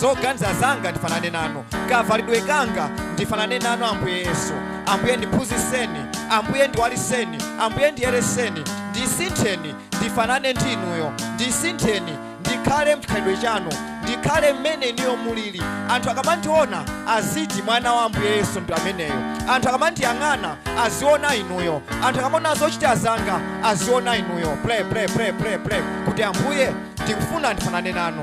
zoganiza zanga ndifanane nanu kavalidwe kanga ndifanane nanu ambuye yesu ambuye ndiphunzitseni ambuye ndiwaliseni ambuye ndiyereseni ndisintheni ndifanane ndi inuyo ndisintheni ndikhale mchikhalidwe chanu ndikhale mmene inuyo mulili anthu akamandiona aziti mwana wa ambuye yesu ndi ameneyo anthu akamandiyang'ana aziona inuyo anthu akamaona zochita zanga aziona inuyo pray pray pray pray pray kuti ambuye ndikufuna ndifanane nanu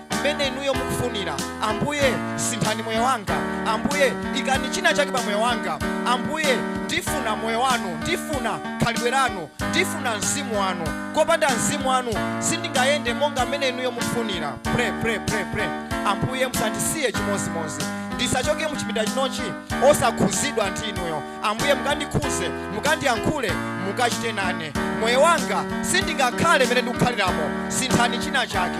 mmene inuyo mukufunira ambuye sinthani moyo wanga ambuye ikani china chake pa moyo wanga ambuye ndifuna moyo wanu ndifuna khalidwe lanu ndifuna mzimu wanu kopanda mzimu wanu sindingayende monga mmene inuyo mukufunira pray pray pray pray ambuye musandisiye chimozimozi ndisachoke muchipinda chinochi osakhuzidwa ndi inuyo ambuye mukandikhuze mukandiyankhule mukachite nane moyo wanga sindingakhale mmene ndikukhaliramo sinthani china chake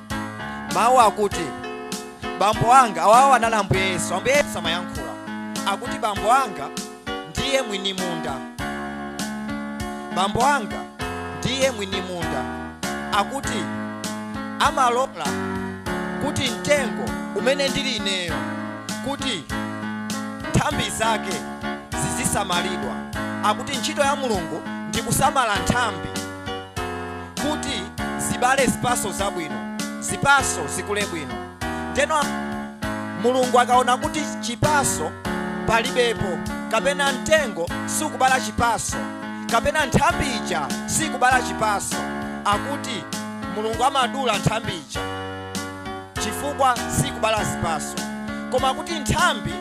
mawu akuti bambo anga awawa anali ambuye yesu ambuye yesu amayankhula akuti bambo anga ndiye mwini munda bambo anga ndiye mwini munda akuti amalola kuti mtengo umene ndili ineyo kuti nthambi zake zizisamalidwa akuti ntchito ya mulungu ndi kusamala nthambi kuti zibale zipaso zabwino zipaso zikule bwino ndeno mulungu akaona kuti chipaso palibepo kapena mtengo sikubala chipaso kapena nthambi ija sikubala chipaso akuti mulungu amadula nthambi ija chifukwa sikubala zipaso koma kuti nthambi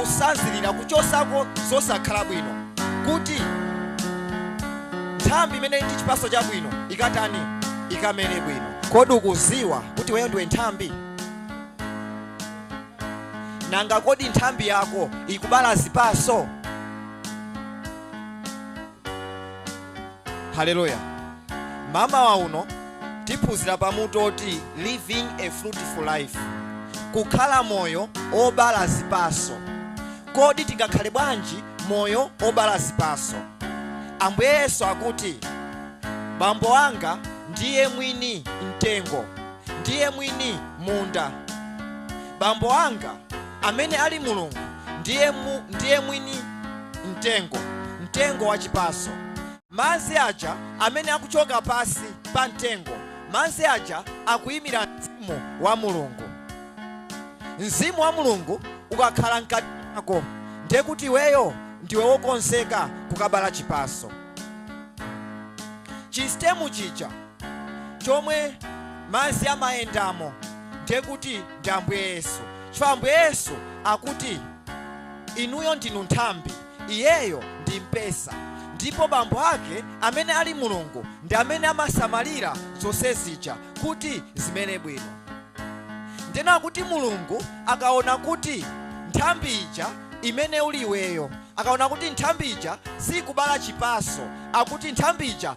kusadzulira kuchosako zosakhala bwino kuti nthambi imene ili ndi chipaso chabwino ikatani ikamere bwino kodi ukuziwa kuti weyo ndiwe nthambi nanga kodi nthambi yako ikubala zipaso Haleluya. Mamawa uno tiphunzira pa mutu woti living a fruitful life, kukhala moyo obala zipaso. Kodi tingakhale bwanji moyo obala zipaso? Ambuye Yesu akuti, bambo wanga ndiye mwini mtengo, ndiye mwini munda. Bambo anga, amene ali Mulungu, ndiye mwini mtengo, mtengo wa chipaso. Madzi aja amene akuchoka pasi pa mtengo, madzi aja akuyimira mzimu wa Mulungu. Mzimu wa Mulungu ukakhala mkati mwako, ndiye kuti iweyo ndiwe wokonzeka kukabala chipaso. Chisitemu chija chomwe madzi amayendamo ndiye kuti ndi ambuye yesu chifukwa ambuye yesu akuti inuyo ndinu nthambi iyeyo ndi mpesa ndipo bambo ake amene ali mulungu ndi amene amasamalira zonse zija kuti zimere bwino nde akuti mulungu akaona kuti nthambi ija imene uli iweyo akaona kuti nthambi ija siikubala chipaso akuti nthambi ija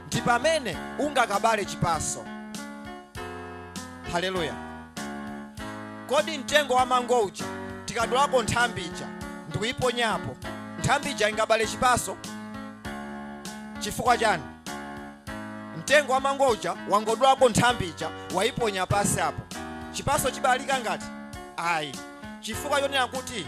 ndi pamene ungakabale chipaso haleluya kodi mtengo wa mango uja tikadulapo nthambi ija ndikuyiponyapo nthambi ija ingabale chipaso chifukwa chani mtengo wa mango uja wangodulapo nthambi ija wayiponya pasi apo chipaso chibalika nanga ayi chifukwa chonena kuti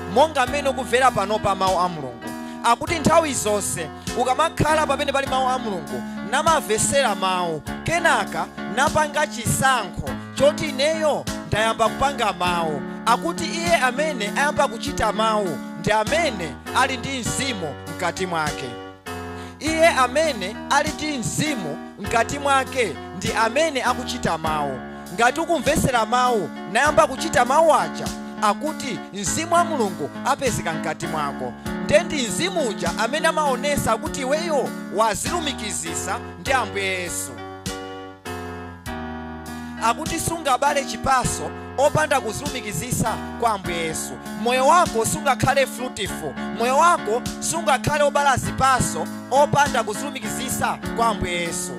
monga mmene ukumvera panopa mau a Mulungu akuti nthawi zonse ukamakhala pamene pali mau a Mulungu namamvesera mau kenaka napanga chisankho choti ineyo ndayamba kupanga mau akuti iye amene ayamba kuchita mau ndi amene ali ndi mzimu mkati mwake iye amene ali ndi mzimu mkati mwake ndi amene akuchita mau Ngati ukumvesera mau nayamba kuchita mau aja akuti mzimu wa Mulungu apezeka mkati mwako nde ndi mzimu uja amene amaonesa kuti iweyo wazilumikizisa ndi Ambuye Yesu. Akuti sungabale chipaso opanda kuzilumikizisa kwa Ambuye Yesu. Moyo wako sungakhale fruitful, moyo wako sungakhale obala zipaso opanda kuzilumikizisa kwa Ambuye Yesu.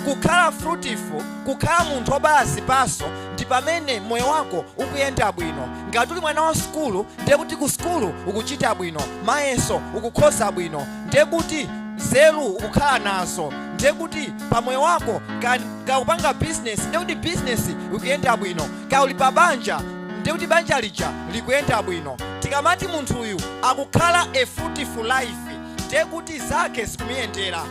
Kukhala fruitful kukhala munthu obala zipaso ndi pamene moyo wako ukuyenda bwino ngati uli mwana wa sukulu ndiye kuti ku sukulu ukuchita bwino mayeso ukukhoza bwino ndiye kuti nzeru ukukhala nazo ndiye kuti pa moyo wako ka ukupanga bizinesi ndiye kuti bizinesi ikuyenda bwino ka uli pa banja ndiye kuti banja lija likuyenda bwino tikamati munthuyu akukhala a fruitful life ndiye kuti zake zikumuyendera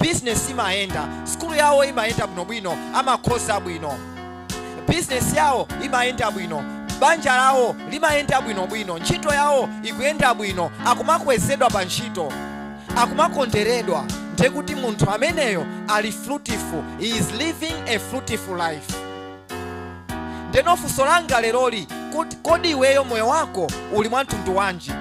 business imayenda, sukulu yawo imayenda bwinobwino, amakhoza bwino, business yawo imayenda bwino, banja lawo limayenda bwinobwino, ntchito yawo ikuyenda bwino, akumakwezedwa pa ntchito, akumakonderedwa, ndiye kuti munthu ameneyo ali fruitful, he is living a fruitful life. Ndeno funso langa leroli kodi iweyo moyo wako uli mwa mtundu wanji?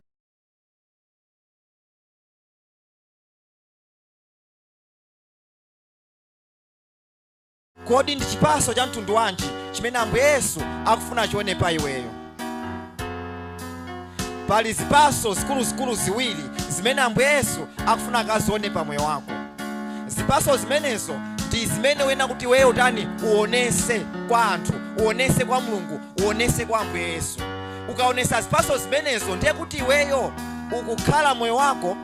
kodi ndi chipaso cha mtundu wanji chimene ambuye yesu akufuna achione pa iweyo pali zipaso zikuluzikulu ziwiri zimene ambuye yesu akufuna akazione pa moyo wako zipaso zimenezo ndi zimene uyenera kuti iweyo utani uonese kwa anthu uonese kwa mulungu uonese kwa ambuye yesu ukaonesa zipaso zimenezo ndiye kuti iweyo ukukhala moyo wako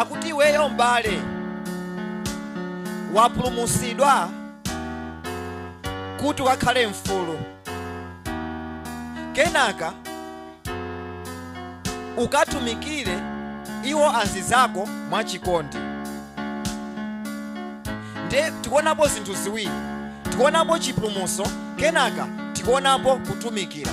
akuti iweyo m'bale wapulumutsidwa kuti ukakhale mfulu kenaka ukatumikire iwo anzizako mwachikondi nde tikuonapo zinthu ziwiri tikuonapo chipulumutso kenaka tikuonapo kutumikira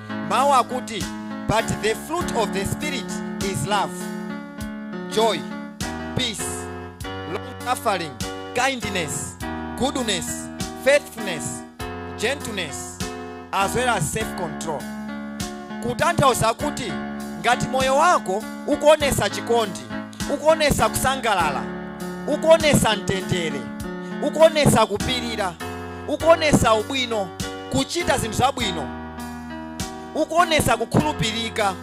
mawu akuti but the fruit of the spirit is love joy peace long suffering kindness goodness faithfulness gentleness as well as self control kutanthauza kuti ngati moyo wako ukuonesa chikondi ukuonesa kusangalala ukuonesa mtendere ukuonesa kupirira ukuonesa ubwino kuchita zinthu zabwino ukuonesa kukhulupirika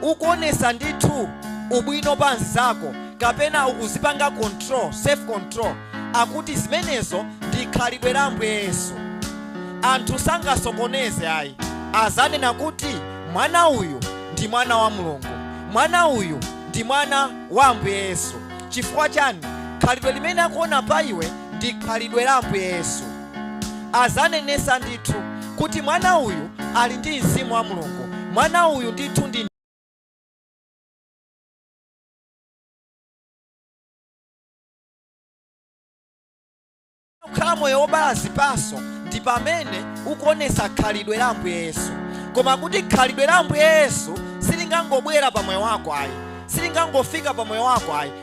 ukuonesa ndithu ubwino pa anzizako kapena ukuzipanga control self control akuti zimenezo ndi khalidwe la ambuye yesu anthu sangasokoneze ayi azanena kuti mwana uyu ndi mwana wa mulungu mwana uyu ndi mwana wa ambuye yesu chifukwa chani khalidwe limene akuona pa iwe ndi khalidwe la ambuye yesu azanenesa ndithu kuti mwana uyu ali ndi mzimu wa mulungu mwana uyu ndithu ndi ukhala moyo wobala zipaso ndi pamene ukuonesa khalidwe la ambuye yesu koma kuti khalidwe la ambuye yesu silingangobwera pa moyo wako ayi silingangofika pa moyo wako ayi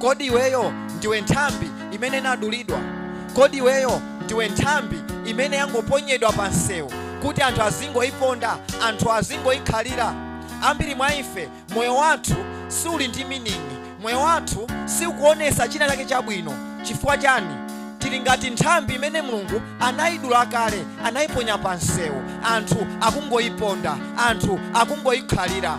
kodi iweyo ndiwe nthambi imene inadulidwa kodi iweyo ndiwe nthambi imene yangoponyedwa pa msewu kuti anthu azingoyiponda anthu azingoyikhalira ambiri mwa ife moyo wathu siuli ndi meaning moyo wathu siukuonesa china chake chabwino chifukwa chani tili ngati nthambi imene mulungu anayidula kale anayiponya pa msewu anthu akungoyiponda anthu akungoyikhalira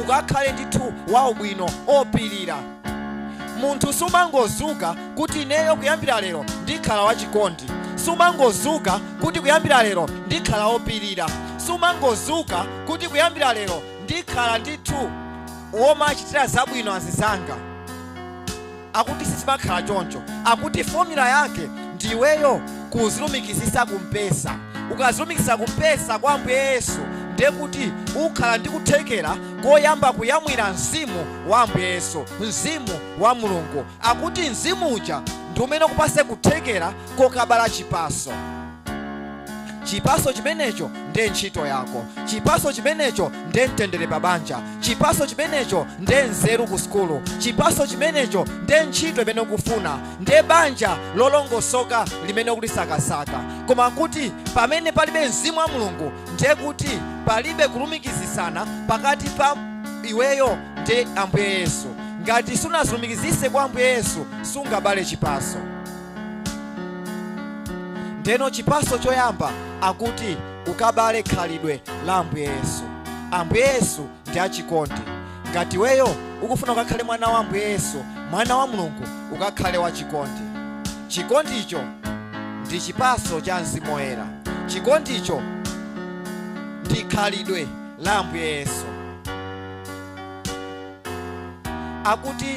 ukakhale ndithu waubwino opilira munthu sumangozuka kuti ineyo kuyambira lero ndikhala wachikondi sumangozuka kuti kuyambira lero ndikhala opilira sumangozuka kuti kuyambira lero ndikhala ndithu womachitira zabwino azinzanga akuti sizimakhala choncho akuti formula yake ndi iweyo kuzilumikizisa kumpesa ukazilumikisa kumpesa kwa ambuye yesu ndiye kuti ukhala ndi kuthekera koyamba kuyamwira mzimu wa ambuye yesu mzimu wa mulungu akuti mzimu uja ndi umene ukupase kuthekera kokabala chipaso chipaso chimenecho nde ntchito yako chipaso chimenecho nde mtendere pa banja chipaso chimenecho nde nzeru ku sukulu chipaso chimenecho nde ntchito imene ukufuna nde banja lolongosoka limene ukulisakasaka koma kuti pamene palibe mzimu wa mulungu ndiye kuti palibe kulumikizisana pakati pa iweyo ndi ambuye yesu ngati sunazilumikizise kwa ambuye yesu sungabale chipaso ndeno chipaso choyamba akuti ukabale khalidwe la ambuye yesu ambuye yesu ndi achikondi ngati iweyo ukufuna ukakhale mwana wa ambuye yesu mwana wa mulungu ukakhale wa chikondi chikondicho ndi chipaso cha mzimu woyera chikondicho ndi khalidwe la ambuye yesu akuti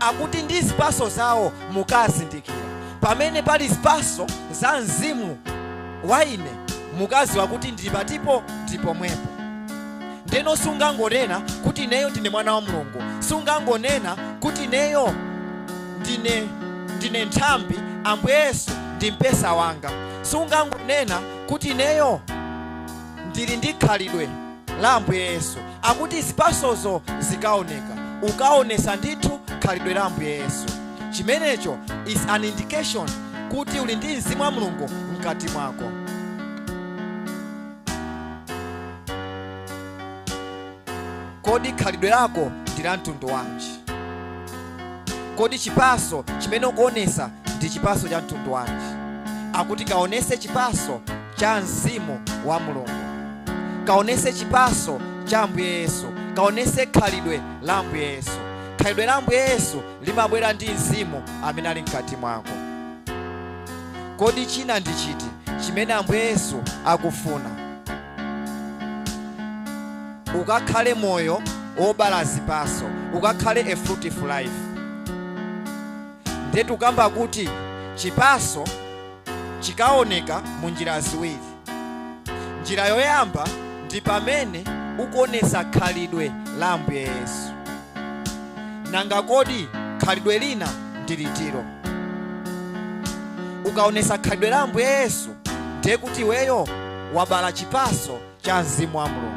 Akuti ndi zipatso zawo mukazindikira. Pamene pali zipatso za Mzimu wa ine mukaziwa kuti ndili patipo ndi pomwepo. Ndeno sungangonena kuti ineyo ndine mwana wa Mulungu, sungangonena kuti ineyo ndine nthambi, Ambuye Yesu ndi mpesa wanga, sungangonena kuti ineyo ndili ndi khalidwe la ambuye yesu akuti zipasozo zikaoneka ukaonesa ndithu khalidwe la ambuye yesu chimenecho is an indication kuti uli ndi mzimu wa mulungu mkati mwako kodi khalidwe lako ndi la mtundu wanji kodi chipaso chimene ukuonesa ndi chipaso cha mtundu wanji akuti kaonese chipaso cha mzimu wa mulungu kaonese chipaso cha ambuye yesu kaonese khalidwe la ambuye yesu khalidwe la ambuye yesu limabwera ndi mzimu amene ali mkati mwako kodi china ndi chiti chimene ambuye yesu akufuna ukakhale moyo wobala zipaso ukakhale a fruitful life ndetu ukamba kuti chipaso chikaoneka mu njira ziwiri. Njira yoyamba ndi pamene ukuonesa khalidwe la Ambuye Yesu. Nanga kodi khalidwe lina ndi litilo? Ukaonesa khalidwe la Ambuye Yesu ndiye kuti iweyo wabala chipaso cha mzimu wa mulungu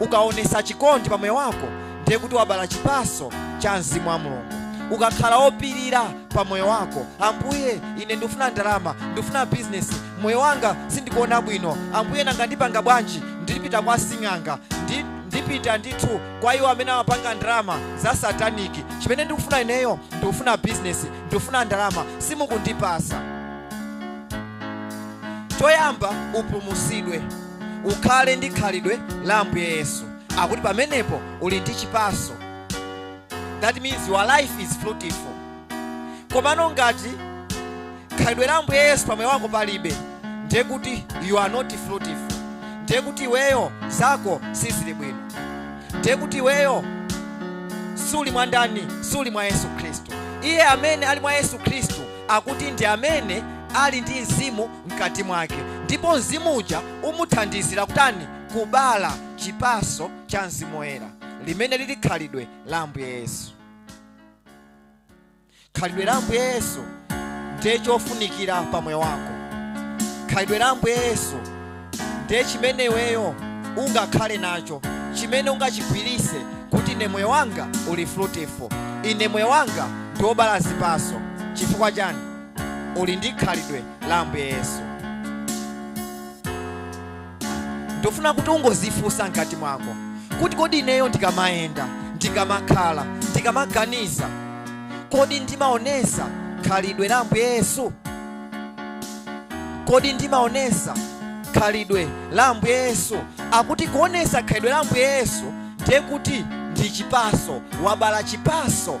ukaonesa chikondi pa moyo wako ndiye kuti wabala chipaso cha mzimu wa mulungu ukakhala opirira pa moyo wako ambuye ine ndifuna ndalama ndifuna bizinesi moyo wanga sindikuona bwino ambuye nanga ndipanga bwanji ndipita kwa sing'anga ndipita ndithu kwa iwo amene amapanga ndalama za sataniki chimene ndikufuna ineyo ndikufuna bizinesi ndikufuna ndalama simukundipasa choyamba upulumusidwe ukhale ndi khalidwe la ambuye yesu akuti pamenepo uli ndi chipaso that means your life is fruitful komano ngati khalidwe la ambuye yesu pamoyo wako palibe ndiye kuti you are not fruitful ndiye kuti iweyo zako sizili bwino ndiye kuti iweyo suli mwa ndani suli mwa yesu khristu iye amene ali mwa yesu khristu akuti ndi amene ali ndi mzimu mkati mwake ndipo mzimu uja umuthandizira kutani kubala chipaso cha mzimu woyera limene lili khalidwe la ambuye yesu khalidwe la ambuye yesu ndiye chofunikira pa moyo wako khalidwe la ambuye yesu ndiye chimene iweyo ungakhale nacho chimene ungachigwirise kuti ine moyo wanga uli fruitful ine moyo wanga ndiwobala zipaso chifukwa chani uli ndi khalidwe la ambuye yesu ndofuna kuti ungozifunsa mkati mwako kuti kodi ineyo ndikamayenda ndikamakhala ndikamaganiza kodi ndimaonesa khalidwe la ambuye yesu kodi ndimaonesa khalidwe la ambuye yesu akuti kuonesa khalidwe la ambuye yesu ndiye kuti ndi chipaso wabala chipaso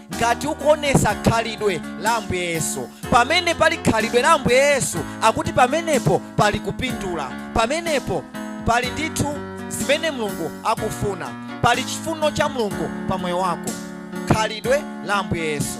ngati ukuonesa khalidwe la ambuye yesu pamene pali khalidwe la ambuye yesu akuti pamenepo pali kupindula pamenepo pali ndithu zimene mulungu akufuna pali chifuno cha mulungu pa moyo wako khalidwe la ambuye yesu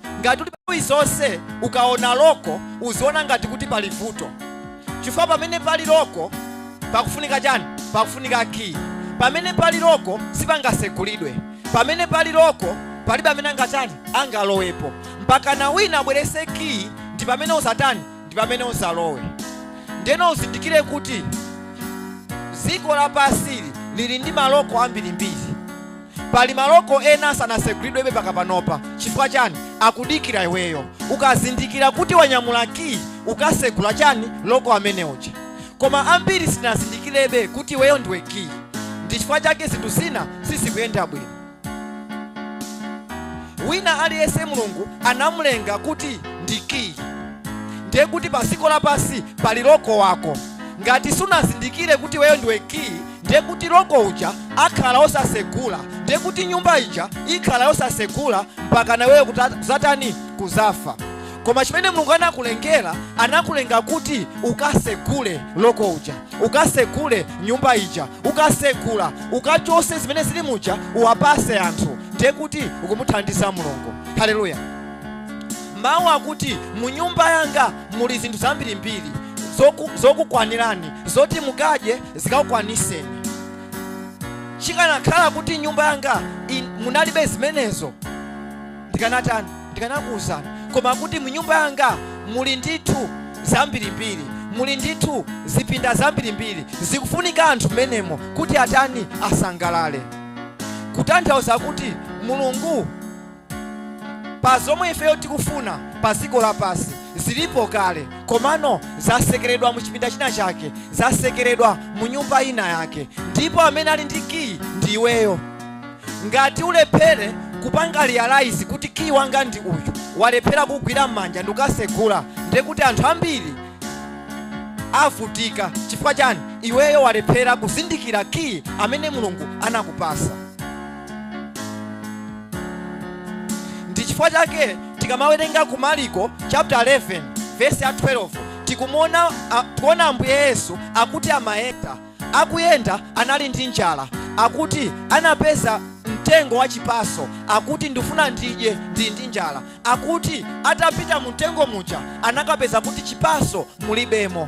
ngati uli nthawi zonse ukaona loko uziona ngati kuti pali vuto chifukwa pamene pali loko pakufunika chani pakufunika kiyi pamene pali loko sipangasekulidwe pamene pali loko palibe amene angatani angalowepo mpakana wina abwerese kiyi ndi pamene uzatani ndi pamene uzalowe ndeno uzindikire kuti dziko lapansili lili ndi maloko ambirimbiri Pali maloko ena sanasegulidwebe paka panopa chifukwa chani akudikira iweyo ukazindikira kuti wanyamula kiyi ukasegula chani loko amene uja koma ambiri sinazindikirebe kuti iweyo ndiwe kiyi ndi chifukwa chake zinthu zina sizikuyenda bwino wina aliyense mulungu anamulenga kuti ndi kiyi ndiye kuti pa dziko lapansi pali loko wako ngati sunazindikire kuti iweyo ndiwe kiyi ndiye kuti loko uja akhala osasegula ndiye kuti nyumba ija ikhala yosasegula mpaka naweyo kut- kuzatani kuzafa koma chimene mulungu anakulengera anakulenga kuti ukasegule loko uja ukasegule nyumba ija ukasegula ukachose zimene zili muja uwapase anthu ndiye kuti ukumuthandiza mulungu haleluya mawu akuti mu nyumba yanga muli zinthu zambirimbiri zokukwanirani zoti mukadye zikakukwaniseni chikanakhala kuti nyumba yanga munalibe zimenezo ndikanatani ndikanakuwuzani koma kuti mu nyumba yanga muli ndithu zambirimbiri muli ndithu zipinda zambirimbiri zikufunika anthu mmenemo kuti atani asangalale kutanthauza kuti mulungu pa zomwe ifeyo tikufuna pa dziko lapansi zilipo kale komano zasekeredwa mu chipinda china chake zasekeredwa mu nyumba ina yake ndipo amene ali ndi kiyi ndi iweyo ngati ulephere kupanga realize kuti kiyi wanga ndi uyu walephera kugwira m'manja ndikasegula ndiye kuti anthu ambiri avutika chifukwa chani iweyo walephera kuzindikira kiyi amene mulungu anakupasa ndi chifukwa chake tikamawerenga ku mariko chapter 11 verse ya 12 tikuona ambuye yesu akuti amayenda akuyenda anali ndi njala akuti anapeza mtengo wa chipaso akuti ndifuna ndidye ndi ndi njala akuti atapita mu mtengo muja anakapeza kuti chipaso mulibemo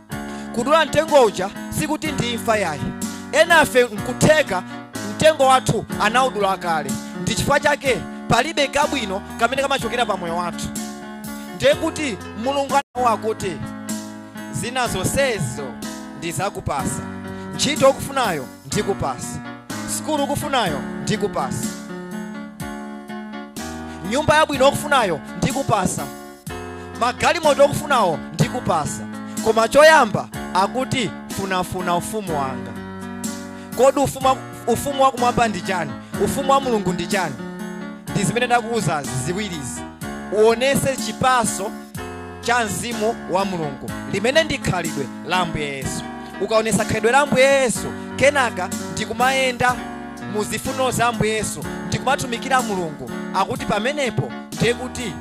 kudula mtengo uja sikuti ndi imfa yayi enafe nkutheka mtengo wathu anaudula kale ndi chifukwa chake palibe kabwino kamene kamachokera pa moyo wathu ndiye kuti mulungu anawona kuti zina zonsezo ndizakupasa ntchito ukufunayo ndikupasa sukulu ukufunayo ndikupasa nyumba yabwino ukufunayo ndikupasa magalimoto okufunawo ndikupasa koma choyamba akuti funafuna ufumu wanga kodi ufumu, wa- ufumu wakumwamba ndi chani ufumu wa mulungu ndi chani ndi zimene ndakuwuzazi ziwirizi uonese chipaso cha mzimu wa mulungu chimene ndi khalidwe la ambuye yesu ukaonesa khalidwe la ambuye yesu kenaka ndikumayenda mu zifuniro za ambuye yesu ndikumatumikira mulungu akuti pamenepo ndiye kuti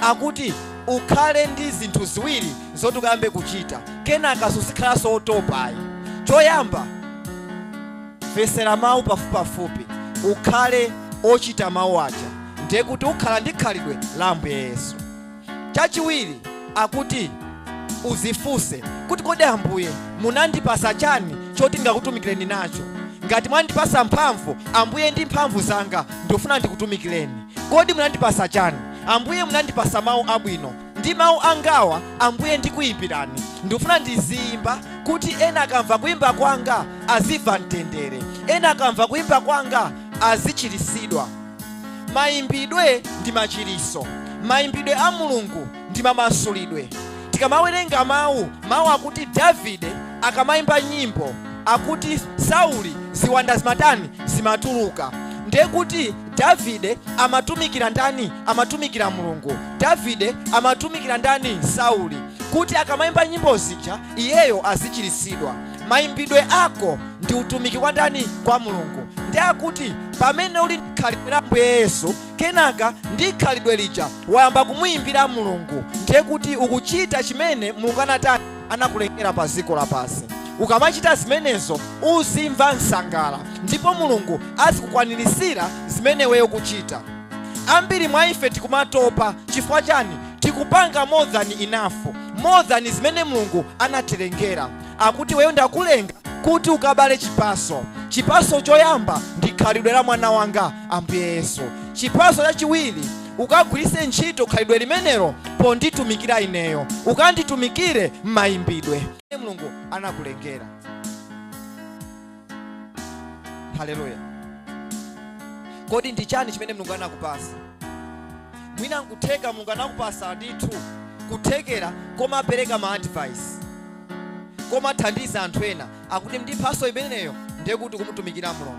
akuti ukhale ndi zinthu ziwiri zoti ukayambe kuchita kenaka suzikhalaso otopayi choyamba mvesera mawu pafupipafupi ukhale ochita mawu aja ndiye kuti ukhala ndi khalidwe la ambuye yesu chachiwiri akuti uzifunse kuti kodi ambuye munandipasa chani choti ndingakutumikireni nacho ngati mwandipasa mphamvu ambuye ndi mphamvu zanga ndikufuna ndikutumikireni kodi munandipasa chani Ambuye munandipasa mau abwino ndi mau angawa Ambuye ndikuimbirani ndikufuna ndiziimba kuti ena akamva kuimba kwanga azimva mtendere ena akamva kuimba kwanga azichirisidwa mayimbidwe ndi machiriso mayimbidwe a mulungu ndi mamasulidwe tikamawerenga mawu mawu akuti davide akamayimba nyimbo akuti sauli ziwanda zimatani zimatuluka ndiye kuti davide amatumikira ndani amatumikira mulungu davide amatumikira ndani sauli kuti akamayimba nyimbo zija iyeyo azichiritsidwa mayimbidwe ako ndi utumiki kwa ndani kwa mulungu ndiye akuti pamene uli ndi khalidwe la ambuye yesu kenaka ndi khalidwe lija wayamba kumuyimbira mulungu ndiye kuti ukuchita chimene mulungu anatani anakulengera pa dziko lapansi ukamachita zimenezo uzimva msangala ndipo mulungu azikukwanirisira zimene weyo kuchita ambiri mwa ife tikumatopa chifukwa chani tikupanga more than enough more than zimene mulungu anatilengera akuti weyo ndakulenga kuti ukabale chipaso chipaso choyamba ndi khalidwe la mwana wanga ambuye yesu chipaso chachiwiri Ukagwiritse ntchito khalidwe limenelo ponditumikira ineyo. Ukanditumikire m'mayimbidwe amene Mulungu anakulengera. Haleluya. Kodi ndi chani chimene Mulungu anakupasa? Mwina nkutheka Mulungu anakupasa ndithu kuthekera komapereka ma advice komathandiza anthu ena akuti ndi mphaso imeneyo ndiye kuti kumutumikira Mulungu.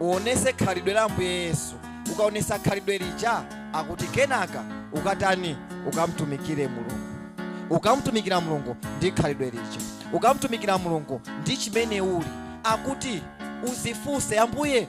uonese khalidwe la ambuye yesu ukaonesa khalidwe lija akuti kenaka ukatani ukamtumikire mulungu ukamtumikira mulungu ndi khalidwe lija ukamtumikira mulungu ndi chimene uli akuti uzifunse ambuye